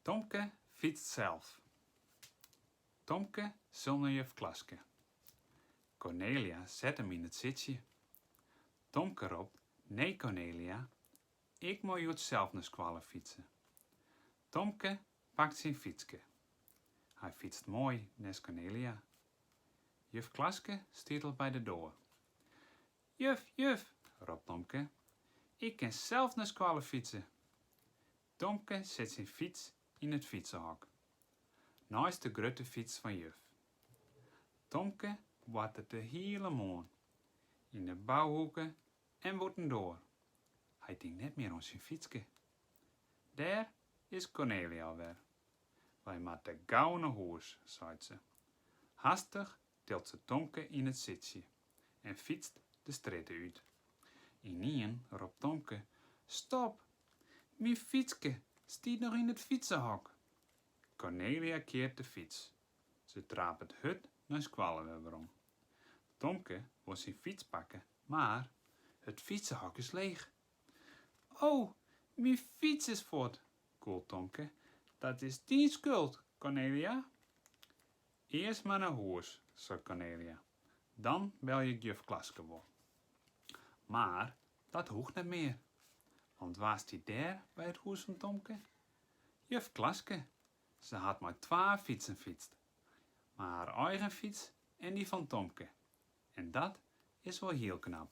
Tomke fytst sels. Tomke sil nei juf Klaske. Cornelia set him yn it sitsje. Tomke ropt, Nee Cornelia, ik mei hjoed sels nei skoalle fytse. Tomke pakt syn fytske. Hy fytst moai nêst Cornelia. Juf Klaske stiet al by de doar. Juf, juf, ropt Tomke, ik kin sels nei skoalle fytse. Tomke set syn fyts yn it fytsehok, neist de grutte fyts fan juf. Tomke boartet de hiele moarn yn de bouhoeke en bûtendoar, hy tinkt net mear oan syn fytske. Dêr is Cornelia al wer. Wy moatte gau nei hûs, seit se. Hastich tilt se Tomke yn it sitsje. en fytst de strjitte út. Ynienen ropt Tomke, Stop! Myn fytske stiet noch yn it fytsehok! Cornelia keart de fyts. Se trapet hurd nei skoalle wer werom. Tomke wol syn fyts pakke, mar it fytsehok is leech. O, myn fyts is fuort! gûlt Tomke. Dat is dyn skuld, Cornelia! Earst mar nei hûs, seit Cornelia. Dan belje ik juf Klaske wol. Mar dat hoecht net mear, want wa stiet dêr by it hûs fan Tomke? Juf Klaske! Se hat mei twa fytsen fytst, mei har eigen fyts en dy fan Tomke. En dat is wol hiel knap.